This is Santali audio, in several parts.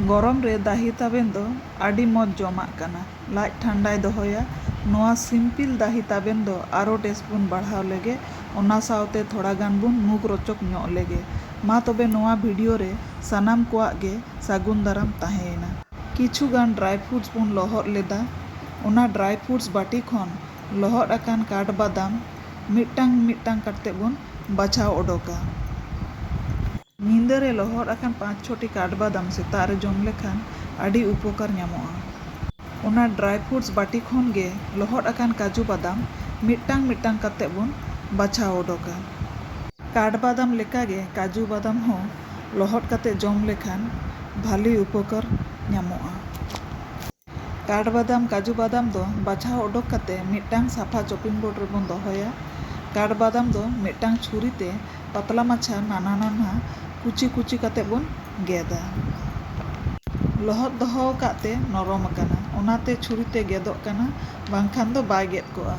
ᱜᱚᱨᱚᱢ ᱨᱮ ᱫᱟᱦᱤ ᱛᱟᱵᱮᱱ ᱫᱚ ᱟᱹᱰᱤ ᱢᱚᱡᱽ ᱡᱚᱢᱟᱜ ᱠᱟᱱᱟ᱾ ᱞᱟᱡ ᱴᱷᱟᱱᱰᱟᱭ ᱫᱚᱦᱚᱭᱟ᱾ ᱱᱚᱣᱟ ᱥᱤᱢᱯᱤᱞ ᱫᱟᱦᱤ ᱛᱟᱵᱮᱱ ᱫᱚ ᱟᱨᱚ ᱴᱮᱥᱴ ᱵᱚᱱ ᱵᱟᱲᱦᱟᱣ ᱞᱮᱜᱮ᱾ ᱚᱱᱟ ᱥᱟᱶᱛᱮ ᱛᱷᱚᱲᱟ ᱜᱟᱱ ᱵᱚᱱ ᱢᱩᱠᱷ ᱨᱚᱪᱚᱠ ᱧᱚᱜ ᱞᱮᱜᱮ᱾ ᱢᱟ ᱛᱚᱵᱮ ᱱᱚᱣᱟ ᱵᱷᱤᱰᱤᱭᱳ ᱨᱮ ᱥᱟᱱᱟᱢ ᱠᱚᱣᱟᱜ ᱜᱮ ᱥᱟᱹᱜᱩᱱ ᱫᱟᱨᱟᱢ ᱛᱟᱦᱮᱸᱭᱮᱱᱟ᱾ ᱠᱤᱪᱷᱩ ᱜᱟᱱ ᱰᱨᱟᱭ ᱯᱷᱨᱩᱴᱥ ᱵᱚᱱ ᱞᱚᱦᱚᱫ ᱞᱮᱫᱟ᱾ ᱚᱱᱟ ᱰᱨᱟᱭ ᱯᱷᱨᱩᱴᱥ ᱵᱟᱹᱴᱤ ᱠᱷᱚᱱ ᱞᱚᱦᱚᱫ ᱟᱠᱟᱱ ᱠᱟᱴᱷᱵᱟᱫᱟᱢ, ᱢᱤᱫᱴᱟᱝ ᱢᱤᱫᱴᱟᱝ ᱠᱟᱴᱛᱮ ᱵᱚᱱ ᱵᱟᱪᱷᱟᱣ ᱚᱰᱚᱠᱟ᱾ ᱧᱤᱫᱟᱹ ᱨᱮ ᱞᱚᱦᱚᱫ ᱟᱠᱟᱱ ᱯᱟᱸᱪ ᱪᱷᱚᱴᱤ ᱠᱟᱴᱵᱟᱫᱟᱢ ᱥᱮᱛᱟᱜ ᱨᱮ ᱡᱚᱢ ᱞᱮᱠᱷᱟᱱ ᱟᱹᱰᱤ ᱩᱯᱚᱠᱟᱨ ᱧᱟᱢᱚᱜᱼᱟ᱾ ᱚᱱᱟ ᱰᱨᱟᱭ ᱯᱷᱩᱰᱥ ᱵᱟᱹᱴᱤ ᱠᱷᱚᱱ ᱜᱮ ᱞᱚᱦᱚᱫ ᱟᱠᱟᱱ ᱠᱟᱡᱩ ᱵᱟᱫᱟᱢ ᱢᱤᱫᱴᱟᱝ ᱢᱤᱫᱴᱟᱝ ᱠᱟᱛᱮ ᱵᱚᱱ ᱵᱟᱪᱷᱟᱣ ᱚᱰᱚᱠᱟ᱾ ᱠᱟᱴᱵᱟᱫᱟᱢ ᱞᱮᱠᱟ ᱜᱮ ᱠᱟᱡᱩ ᱵᱟᱫᱟᱢ ᱦᱚᱸ ᱞᱚᱦᱚᱫ ᱠᱟᱛᱮ ᱡᱚᱢ ᱞᱮᱠᱷᱟᱱ ᱵᱷᱟᱹᱞᱤ ᱩᱯᱚᱠᱟᱨ ᱧᱟᱢᱚᱜᱼᱟ᱾ ᱠᱟᱴᱷᱵᱟᱫᱟᱢ, ᱠᱟᱡᱩ ᱵᱟᱫᱟᱢ ᱫᱚ ᱵᱟᱪᱷᱟᱣ ᱚᱰᱚᱠ ᱠᱟᱛᱮ ᱢᱤᱫᱴᱟᱝ ᱥᱟᱯᱷᱟ ᱪᱚᱯᱤᱝ ᱵᱳᱨᱰ ᱨᱮ ᱵᱚᱱ ᱫᱚᱦᱚᱭᱟ᱾ ᱠᱟᱴᱷᱵᱟᱫᱟᱢ ᱫᱚ ᱢᱤᱫᱴᱟᱝ ᱪᱷᱩᱨᱤ ᱛᱮ ᱯᱟᱛᱞᱟ ᱢᱟᱪᱷᱟ ᱱᱟᱱᱦᱟ ᱱᱟᱱᱦᱟ ᱠᱩᱪᱤ ᱠᱩᱪᱤ ᱠᱟᱛᱮ ᱵᱚᱱ ᱜᱮᱫᱟ᱾ ᱞᱚᱦᱚᱫ ᱫᱚᱦᱚ ᱟᱠᱟᱫ ᱛᱮ ᱱᱚᱨᱚᱢ ᱟᱠᱟᱱᱟ, ᱚᱱᱟ ᱛᱮ ᱪᱷᱩᱨᱤ ᱛᱮ ᱜᱮᱫᱚᱜ ᱠᱟᱱᱟ, ᱵᱟᱝᱠᱷᱟᱱ ᱫᱚ ᱵᱟᱭ ᱜᱮᱫ ᱠᱚᱜᱼᱟ᱾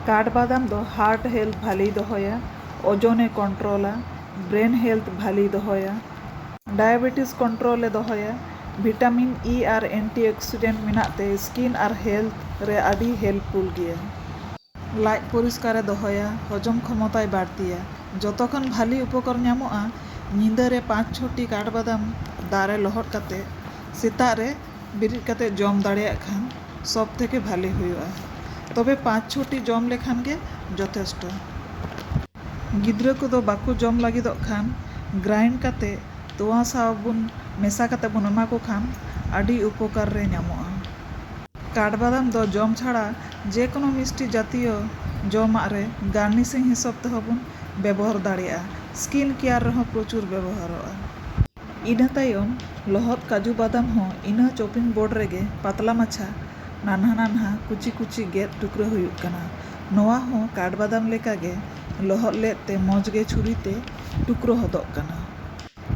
ᱠᱟᱴᱷᱵᱟᱫᱟᱢ ᱫᱚ ᱦᱟᱨᱴ ᱦᱮᱞᱛᱷ ᱵᱷᱟᱞᱮᱭ ᱫᱚᱦᱚᱭᱟ, ᱳᱡᱚᱱ ᱮ ᱠᱚᱱᱴᱨᱳᱞᱟ, ᱵᱨᱮᱱ ᱦᱮᱞᱛᱷ ᱵᱷᱟᱞᱮᱭ ᱫᱚᱦᱚᱭᱟ, ᱰᱟᱭᱟᱵᱮᱴᱤᱥ ᱠᱚᱱᱴᱨᱳᱞ ᱮ ᱫᱚᱦᱚᱭᱟ᱾ ᱵᱷᱤᱴᱟᱢᱤᱱ ᱤ ᱟᱨ ᱮᱱᱴᱤᱚᱠᱥᱤᱰᱮᱱᱴ ᱢᱮᱱᱟᱜ ᱛᱮ ᱥᱠᱤᱱ ᱟᱨ ᱦᱮᱞᱛᱷ ᱨᱮ ᱟᱹᱰᱤ ᱦᱮᱞᱯᱷᱩᱞ ᱜᱮᱭᱟ᱾ ᱞᱟᱡ ᱯᱚᱨᱤᱥᱠᱟᱨ ᱮ ᱫᱚᱦᱚᱭᱟ, ᱦᱚᱡᱚᱢ ᱠᱷᱚᱢᱚᱛᱟᱭ ᱵᱟᱹᱲᱛᱤᱭᱟ᱾ ᱡᱚᱛᱚ ᱠᱷᱚᱱ ᱵᱷᱟᱹᱞᱤ ᱩᱯᱚᱠᱟᱨ ᱧᱟᱢᱚᱜᱼᱟ ᱧᱤᱫᱟᱹ ᱨᱮ ᱯᱟᱸᱪ ᱪᱷᱚ ᱴᱤ ᱠᱟᱴᱷᱵᱟᱫᱟᱢ ᱫᱟᱜ ᱨᱮ ᱞᱚᱦᱚᱫ ᱠᱟᱛᱮ ᱥᱮᱛᱟᱜ ᱨᱮ ᱵᱮᱨᱮᱫ ᱠᱟᱛᱮ ᱡᱚᱢ ᱫᱟᱲᱮᱭᱟᱜ ᱠᱷᱟᱱ ᱥᱚᱵᱽ ᱛᱷᱮᱠᱮ ᱵᱷᱟᱹᱞᱤ ᱦᱩᱭᱩᱜᱼᱟ᱾ ᱛᱚᱵᱮ ᱯᱟᱸᱪ ᱪᱷᱚ ᱴᱤ ᱡᱚᱢ ᱞᱮᱠᱷᱟᱱ ᱜᱮ ᱡᱚᱛᱷᱮᱥᱴᱚ᱾ ᱜᱤᱫᱽᱨᱟᱹ ᱠᱚᱫᱚ ᱵᱟᱠᱚ ᱡᱚᱢ ᱞᱟᱹᱜᱤᱫᱚᱜ ᱠᱷᱟᱱ ᱜᱨᱟᱭᱤᱱᱰ ᱠᱟᱛᱮ ᱛᱳᱣᱟ ᱥᱟᱶ ᱵᱚᱱ ᱢᱮᱥᱟ ᱠᱟᱛᱮ ᱵᱚᱱ ᱮᱢᱟ ᱠᱚ ᱠᱷᱟᱱ ᱟᱹᱰᱤ ᱩᱯᱚᱠᱟᱨ ᱨᱮ ᱧᱟᱢᱚᱜᱼᱟ᱾ ᱠᱟᱴᱷᱵᱟᱫᱟᱢ ᱫᱚ ᱡᱚᱢ ᱪᱷᱟᱲᱟ ᱡᱮ ᱠᱳᱱᱳ ᱢᱤᱥᱴᱤ ᱡᱟᱛᱤᱭᱚ ᱡᱚᱢᱟᱜ ᱨᱮ ᱜᱟᱨᱱᱤᱥᱤᱝ ᱦᱤᱥᱟᱹᱵ ᱛᱮᱦᱚᱸ ᱵᱚᱱ ᱵᱮᱵᱚᱦᱟᱨ ᱫᱟᱲᱮᱭᱟᱜᱼᱟ᱾ ᱥᱠᱤᱱ ᱠᱮᱭᱟᱨ ᱨᱮᱦᱚᱸ ᱯᱨᱚᱪᱩᱨ ᱵᱮᱵᱚᱦᱟᱨᱚᱜᱼᱟ᱾ ᱤᱱᱟᱹ ᱛᱟᱭᱚᱢ ᱞᱚᱦᱚᱫ ᱠᱟᱡᱩ ᱵᱟᱫᱟᱢ ᱦᱚᱸ ᱤᱱᱟᱹ ᱪᱚᱯᱤᱝ ᱵᱳᱨᱰ ᱨᱮᱜᱮ ᱯᱟᱛᱞᱟ ᱢᱟᱪᱷᱟ ᱱᱟᱱᱦᱟ ᱱᱟᱱᱦᱟ ᱠᱩᱪᱤ ᱠᱩᱪᱤ ᱜᱮᱫ ᱴᱩᱠᱨᱟᱹ ᱦᱩᱭᱩᱜ ᱠᱟᱱᱟ᱾ ᱱᱚᱣᱟ ᱦᱚᱸ ᱠᱟᱴᱵᱟᱫᱟᱢ ᱞᱮᱠᱟ ᱜᱮ ᱞᱚᱦᱚᱫ ᱞᱮᱫ ᱛᱮ ᱢᱚᱡᱽ ᱜᱮ ᱪᱷᱩᱨᱤ ᱛᱮ ᱴᱩᱠᱨᱚ ᱦᱚᱫᱚᱜ ᱠᱟᱱᱟ᱾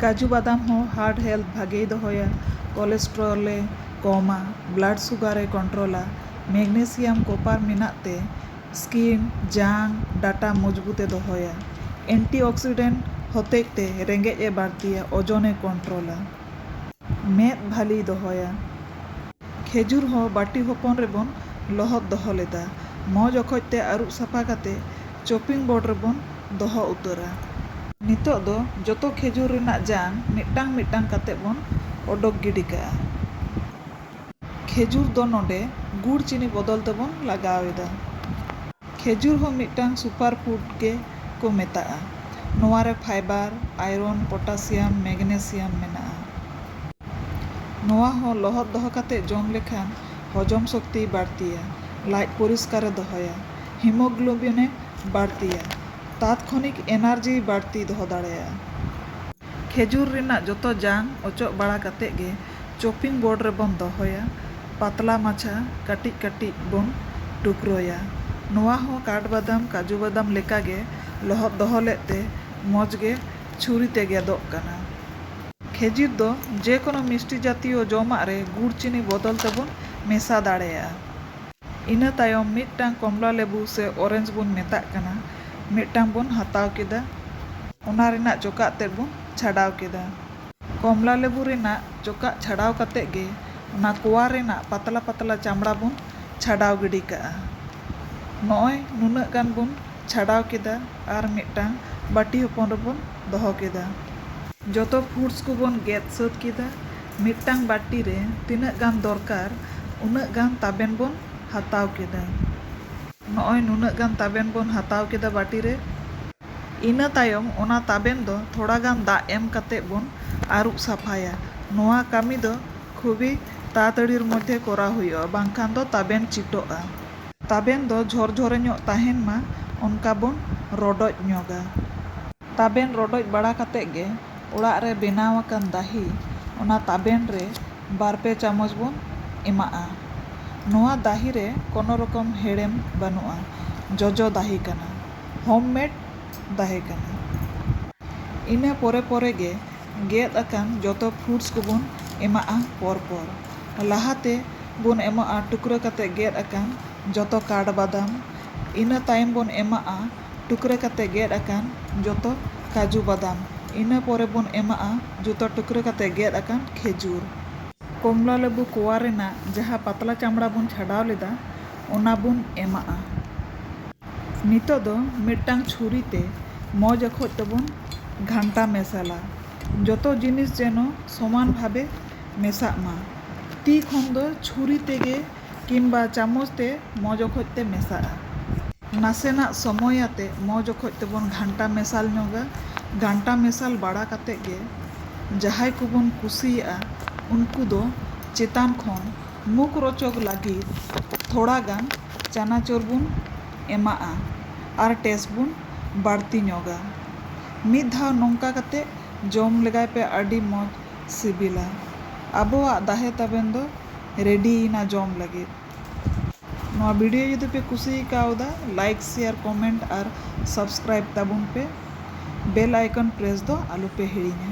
ᱠᱟᱡᱩ ᱵᱟᱫᱟᱢ ᱦᱚᱸ ᱦᱟᱨᱴ ᱦᱮᱞᱛᱷ ᱵᱷᱟᱜᱮᱭ ᱫᱚᱦᱚᱭᱟ, ᱠᱚᱞᱮᱥᱴᱨᱚᱞ ᱮ ᱠᱚᱢᱟ, ᱵᱞᱟᱰ ᱥᱩᱜᱟᱨ ᱮ ᱠᱚᱱᱴᱨᱚᱞᱟ᱾ ᱢᱮᱜᱽᱱᱮᱥᱤᱭᱟᱢ ᱠᱚᱯᱟᱨ ᱢᱮᱱᱟᱜ ᱛᱮ ᱥᱠᱤᱱ, ᱡᱟᱝ, ᱰᱟᱴᱟ ᱢᱚᱡᱽᱵᱩᱛ ᱮ ᱫᱚᱦᱚᱭᱟ᱾ ᱮᱱᱴᱤᱚᱠᱥᱤᱰᱮᱱᱴ ᱦᱚᱛᱮᱡ ᱛᱮ ᱨᱮᱸᱜᱮᱡ ᱮ ᱵᱟᱹᱲᱛᱤᱭᱟ, ᱚᱡᱚᱱ ᱮ ᱠᱚᱱᱴᱨᱚᱞᱟ᱾ ᱢᱮᱫ ᱵᱷᱟᱹᱞᱤᱭ ᱫᱚᱦᱚᱭᱟ᱾ ᱠᱷᱮᱡᱩᱨ ᱦᱚᱸ ᱵᱟᱹᱴᱤ ᱦᱚᱯᱚᱱ ᱨᱮ ᱵᱚᱱ ᱞᱚᱦᱚᱫ ᱫᱚᱦᱚ ᱞᱮᱫᱟ᱾ ᱢᱚᱡᱽ ᱚᱠᱚᱡ ᱛᱮ ᱟᱹᱨᱩᱵ ᱥᱟᱯᱷᱟ ᱠᱟᱛᱮ ᱪᱚᱯᱤᱝ ᱵᱚᱨᱰ ᱨᱮ ᱵᱚᱱ ᱫᱚᱦᱚ ᱩᱛᱟᱹᱨᱟ᱾ ᱱᱤᱛᱚᱜ ᱫᱚ ᱡᱚᱛᱚ ᱠᱷᱮᱡᱩᱨ ᱨᱮᱱᱟᱜ ᱡᱟᱝ ᱢᱤᱫᱴᱟᱝ ᱢᱤᱫᱴᱟᱝ ᱠᱟᱛᱮ ᱵᱚᱱ ᱚᱰᱚᱠ ᱜᱤᱰᱤ ᱠᱟᱜᱼᱟ᱾ ᱠᱷᱮᱡᱩᱨ ᱫᱚ ᱱᱚᱰᱮ ᱜᱩᱲ ᱪᱤᱱᱤ ᱵᱚᱫᱚᱞ ᱛᱮ ᱵᱚᱱ ᱞᱟᱜᱟᱣ ᱮᱫᱟ᱾ ᱠᱷᱮᱡᱩᱨ ᱦᱚᱸ ᱢᱤᱫᱴᱟᱝ ᱥᱩᱯᱟᱨ ᱯᱷᱩᱰ ᱜᱮ ᱠᱚ ᱢᱮᱛᱟᱜᱼᱟ᱾ ᱱᱚᱶᱟ ᱨᱮ ᱯᱷᱟᱭᱵᱟᱨ, ᱟᱭᱨᱚᱱ, ᱯᱚᱴᱟᱥᱤᱭᱟᱢ, ᱢᱮᱜᱽᱱᱮᱥᱤᱭᱟᱢ ᱢᱮᱱᱟᱜᱼᱟ᱾ ᱱᱚᱶᱟ ᱦᱚᱸ ᱞᱚᱦᱚᱫ ᱫᱚᱦᱚ ᱠᱟᱛᱮ ᱡᱚᱢ ᱞᱮᱠᱷᱟᱱ ᱦᱚᱡᱚᱢ ᱥᱚᱠᱛᱤᱭ ᱵᱟᱹᱲᱛᱤᱭᱟ, ᱞᱟᱡ ᱯᱚᱨᱤᱥᱠᱟᱨ ᱮ ᱫᱚᱦᱚᱭᱟ, ᱦᱤᱢᱚᱜᱽᱞᱚᱵᱤᱱ ᱮ ᱵᱟᱹᱲᱛᱤᱭᱟ, ᱛᱟᱛᱠᱷᱚᱱᱤᱠ ᱮᱱᱟᱨᱡᱤᱭ ᱵᱟᱹᱲᱛᱤ ᱫᱚᱦᱚ ᱫᱟᱲᱮᱭᱟᱜᱼᱟ᱾ ᱠᱷᱮᱡᱩᱨ ᱨᱮᱱᱟᱜ ᱡᱚᱛᱚ ᱡᱟᱝ ᱚᱪᱚᱜ ᱵᱟᱲᱟ ᱠᱟᱛᱮ ᱜᱮ᱾ ᱪᱚᱯᱤᱝ ᱵᱚᱨᱰ ᱨᱮᱵᱚᱱ ᱫᱚᱦᱚᱭᱟ᱾ ᱯᱟᱛᱞᱟ ᱢᱟᱪᱷᱟ ᱠᱟᱹᱴᱤᱡ ᱠᱟᱹᱴᱤᱡ ᱵᱚᱱ ᱴᱩᱠᱨᱚᱭᱟ᱾ ᱱᱚᱣᱟ ᱦᱚᱸ ᱠᱟᱴ ᱵᱟᱫᱟᱢ, ᱠᱟᱡᱩ ᱵᱟᱫᱟᱢ ᱞᱮᱠᱟ ᱜᱮ ᱞᱚᱦᱚᱫ ᱫᱚᱦᱚ ᱞᱮᱫ ᱛᱮ ᱢᱚᱡᱽ ᱜᱮ ᱪᱷᱩᱨᱤ ᱛᱮ ᱜᱮᱫᱚᱜ ᱠᱟᱱᱟ᱾ ᱠᱷᱮᱡᱤᱨ ᱫᱚ ᱡᱮ ᱠᱚᱱᱚ ᱢᱤᱥᱴᱤ ᱡᱟᱛᱤᱭᱚ ᱡᱚᱢᱟᱜ ᱨᱮ ᱜᱩᱲ ᱪᱤᱱᱤ ᱵᱚᱫᱚᱞ ᱛᱮ ᱵᱚᱱ ᱢᱮᱥᱟ ᱫᱟᱲᱮᱭᱟᱜᱼᱟ᱾ ᱤᱱᱟᱹ ᱛᱟᱭᱚᱢ ᱢᱤᱫᱴᱟᱝ ᱠᱚᱢᱞᱟ ᱞᱮᱵᱩ ᱥᱮ ᱚᱨᱮᱱᱡᱽ ᱵᱚᱱ ᱢᱮᱛᱟᱜ ᱠᱟᱱᱟ ᱢᱤᱫᱴᱟᱝ ᱵᱚᱱ ᱦᱟᱛᱟᱣ ᱠᱮᱫᱟ᱾ ᱚᱱᱟ ᱨᱮᱱᱟᱜ ᱪᱚᱠᱟᱜ ᱛᱮᱫ ᱵᱚᱱ ᱪᱷᱟᱰᱟᱣ ᱠᱮᱫᱟ᱾ ᱠᱚᱢᱞᱟ ᱞᱮᱵᱩ ᱨᱮᱱᱟᱜ ᱪᱚᱠᱟᱜ ᱪᱷᱟᱰᱟᱣ ᱠᱟᱛᱮ ᱜᱮ ᱚᱱᱟ ᱠᱚᱣᱟ ᱨᱮᱱᱟᱜ ᱯᱟᱛᱞᱟ ᱯᱟᱛᱞᱟ ᱪᱟᱢᱲᱟ ᱵᱚᱱ ᱪᱷᱟᱰᱟᱣ ᱜᱤᱰᱤ ᱠᱟᱜᱼᱟ᱾ ᱱᱚᱜᱼᱚᱭ ᱱᱩᱱᱟᱹᱜ ᱜᱟᱱ ᱵᱚᱱ ᱪᱷᱟᱰᱟᱣ ᱠᱮᱫᱟ ᱟᱨ ᱢᱤᱫᱴᱟᱝ ᱵᱟᱹᱴᱤ ᱦᱚᱯᱚᱱ ᱨᱮᱵᱚᱱ ᱫᱚᱦᱚ ᱠᱮᱫᱟ᱾ ᱡᱚᱛᱚ ᱯᱷᱩᱰᱥ ᱠᱚᱵᱚᱱ ᱜᱮᱫ ᱥᱟᱹᱛ ᱠᱮᱫᱟ᱾ ᱢᱤᱫᱴᱟᱝ ᱵᱟᱹᱴᱤ ᱨᱮ ᱛᱤᱱᱟᱹᱜ ᱜᱟᱱ ᱫᱚᱨᱠᱟᱨ ᱩᱱᱟᱹᱜ ᱜᱟᱱ ᱛᱟᱵᱮᱱ ᱵᱚᱱ ᱦᱟᱛᱟᱣ ᱠᱮᱫᱟ᱾ ᱱᱚᱜᱼᱚᱭ ᱱᱩᱱᱟᱹᱜ ᱜᱟᱱ ᱛᱟᱵᱮᱱ ᱵᱚᱱ ᱦᱟᱛᱟᱣ ᱠᱮᱫᱟ ᱵᱟᱹᱴᱤ ᱨᱮ᱾ ᱤᱱᱟᱹ ᱛᱟᱭᱚᱢ ᱚᱱᱟ ᱛᱟᱵᱮᱱ ᱫᱚ ᱛᱷᱚᱲᱟ ᱜᱟᱱ ᱫᱟᱜ ᱮᱢ ᱠᱟᱛᱮ ᱵᱚᱱ ᱟᱹᱨᱩᱵ ᱥᱟᱯᱷᱟᱭᱟ᱾ ᱱᱚᱣᱟ ᱠᱟᱹᱢᱤ ᱫᱚ ᱠᱷᱩᱵᱤ ᱛᱟᱲᱟᱛᱟᱹᱲᱤᱨ ᱢᱚᱫᱷᱮ ᱠᱚᱨᱟᱣ ᱦᱩᱭᱩᱜᱼᱟ ᱵᱟᱝᱠᱷᱟᱱ ᱫᱚ ᱛᱟᱵᱮᱱ ᱪᱤᱴᱚᱜᱼᱟ᱾ ᱛᱟᱵᱮᱱ ᱫᱚ ᱡᱷᱚᱨᱡᱷᱚᱨᱮ ᱧᱚᱜ ᱛᱟᱦᱮᱱ ᱢᱟ ᱚᱱᱠᱟ ᱵᱚᱱ ᱨᱚᱰᱚᱡ ᱧᱚᱜᱟ᱾ ᱛᱟᱵᱮᱱ ᱨᱚᱰᱚᱡ ᱵᱟᱲᱟ ᱠᱟᱛᱮ ᱜᱮ ᱚᱲᱟᱜ ᱨᱮ ᱵᱮᱱᱟᱣ ᱟᱠᱟᱱ ᱫᱟᱦᱤ ᱚᱱᱟ ᱛᱟᱵᱮᱱ ᱨᱮ ᱵᱟᱨ ᱯᱮ ᱪᱟᱢᱚᱪ ᱵᱚᱱ ᱮᱢᱟᱜᱼᱟ᱾ ᱱᱚᱣᱟ ᱫᱟᱦᱤ ᱨᱮ ᱠᱚᱱᱚ ᱨᱚᱠᱚᱢ ᱦᱮᱲᱮᱢ ᱵᱟᱹᱱᱩᱜᱼᱟ᱾ ᱡᱚᱡᱚ ᱫᱟᱦᱤ ᱠᱟᱱᱟ᱾ ᱦᱳᱢ ᱢᱮᱰ ᱛᱟᱦᱮᱸ ᱠᱟᱱᱟ᱾ ᱤᱱᱟᱹ ᱯᱚᱨᱮ ᱯᱚᱨᱮ ᱜᱮ ᱜᱮᱫ ᱟᱠᱟᱱ ᱡᱚᱛᱚ ᱯᱷᱩᱰᱥ ᱠᱚᱵᱚᱱ ᱮᱢᱟᱜᱼᱟ ᱯᱚᱨ ᱯᱚᱨ᱾ ᱞᱟᱦᱟ ᱛᱮ ᱵᱚᱱ ᱮᱢᱟᱜᱼᱟ ᱴᱩᱠᱨᱟᱹ ᱠᱟᱛᱮ ᱜᱮᱫ ᱟᱠᱟᱱ ᱡᱚᱛᱚ ᱠᱟᱴ ᱵᱟᱫᱟᱢ, ᱤᱱᱟᱹ ᱛᱟᱭᱚᱢ ᱵᱚᱱ ᱮᱢᱟᱜᱼᱟ ᱴᱩᱠᱨᱟᱹ ᱠᱟᱛᱮ ᱜᱮᱫ ᱟᱠᱟᱱ ᱡᱚᱛᱚ ᱠᱟᱡᱩ ᱵᱟᱫᱟᱢ, ᱤᱱᱟᱹ ᱯᱚᱨᱮ ᱵᱚᱱ ᱮᱢᱟᱜᱼᱟ ᱡᱚᱛᱚ ᱴᱩᱠᱨᱟᱹ ᱠᱟᱛᱮ ᱜᱮᱫ ᱟᱠᱟᱱ ᱠᱷᱮᱡᱩᱨ᱾ ᱠᱚᱢᱞᱟ ᱞᱮᱵᱩ ᱠᱚᱣᱟ ᱨᱮᱱᱟᱜ ᱡᱟᱦᱟᱸ ᱯᱟᱛᱞᱟ ᱪᱟᱢᱲᱟ ᱵᱚᱱ ᱪᱷᱟᱰᱟᱣ ᱞᱮᱫᱟ ᱚᱱᱟ ᱵᱚᱱ ᱮᱢᱟᱜᱼᱟ᱾ ᱱᱤᱛᱚᱜ ᱫᱚ ᱢᱤᱫᱴᱟᱝ ᱪᱷᱩᱨᱤ ᱛᱮ ᱢᱚᱡᱽ ᱚᱠᱚᱡ ᱛᱮᱵᱚᱱ ᱜᱷᱟᱱᱴᱟ ᱢᱮᱥᱟᱞᱟ᱾ ᱡᱚᱛᱚ ᱡᱤᱱᱤᱥ ᱡᱮᱱᱚ ᱥᱚᱢᱟᱱ ᱵᱷᱟᱵᱮ ᱢᱮᱥᱟᱜ ᱢᱟ᱾ ᱛᱤ ᱠᱷᱚᱱ ᱫᱚ ᱪᱷᱩᱨᱤ ᱛᱮᱜᱮ ᱠᱤᱢᱵᱟ ᱪᱟᱢᱚᱪ ᱛᱮ ᱢᱚᱡᱽ ᱚᱠᱚᱡ ᱛᱮ ᱢᱮᱥᱟᱜᱼᱟ᱾ ᱱᱟᱥᱮᱱᱟᱜ ᱥᱚᱢᱚᱭ ᱟᱛᱮ ᱢᱚᱡᱽ ᱚᱠᱚᱡ ᱛᱮᱵᱚᱱ ᱜᱷᱟᱱᱴᱟ ᱢᱮᱥᱟᱞ ᱧᱚᱜᱟ᱾ ᱜᱷᱟᱱᱴᱟ ᱢᱮᱥᱟᱞ ᱵᱟᱲᱟ ᱠᱟᱛᱮ ᱜᱮ ᱡᱟᱦᱟᱸᱭ ᱠᱚᱵᱚᱱ ᱠᱩᱥᱤᱭᱟᱜᱼᱟ ᱩᱱᱠᱩ ᱫᱚ ᱪᱮᱛᱟᱱ ᱠᱷᱚᱱ ᱢᱩᱠᱷᱨᱚᱪᱚᱠ ᱞᱟᱹᱜᱤᱫ ᱛᱷᱚᱲᱟ ᱜᱟᱱ᱾ ᱪᱟᱱᱟᱪᱚᱨ ᱵᱚᱱ ᱮᱢᱟᱜᱼᱟ ᱟᱨ ᱴᱮᱥᱴ ᱵᱚᱱ ᱵᱟᱹᱲᱛᱤ ᱧᱚᱜᱟ᱾ ᱢᱤᱫ ᱫᱷᱟᱣ ᱱᱚᱝᱠᱟ ᱠᱟᱛᱮ ᱡᱚᱢ ᱞᱮᱜᱟᱭ ᱯᱮ ᱟᱹᱰᱤ ᱢᱚᱡᱽ ᱥᱤᱵᱤᱞᱟ᱾ ᱟᱵᱚᱣᱟᱜ ᱫᱟᱦᱮ ᱛᱟᱵᱮᱱ ᱫᱚ ᱨᱮᱰᱤ ᱮᱱᱟ ᱡᱚᱢ ᱞᱟᱹᱜᱤᱫ᱾ ᱱᱚᱣᱟ ᱵᱷᱤᱰᱤᱭᱳ ᱡᱩᱫᱤ ᱯᱮ ᱠᱩᱥᱤ ᱠᱟᱣᱫᱟ ᱞᱟᱭᱤᱠ ᱥᱮᱭᱟᱨ ᱠᱚᱢᱮᱱᱴ ᱟᱨ ᱥᱟᱵᱥᱠᱨᱟᱭᱤᱵ ᱛᱟᱵᱚᱱ ᱯᱮ᱾ ᱵᱮᱞ ᱟᱭᱠᱚᱱ ᱯᱨᱮᱥ ᱫᱚ ᱟᱞᱚ ᱯᱮ ᱦᱤᱲᱤᱧᱟ᱾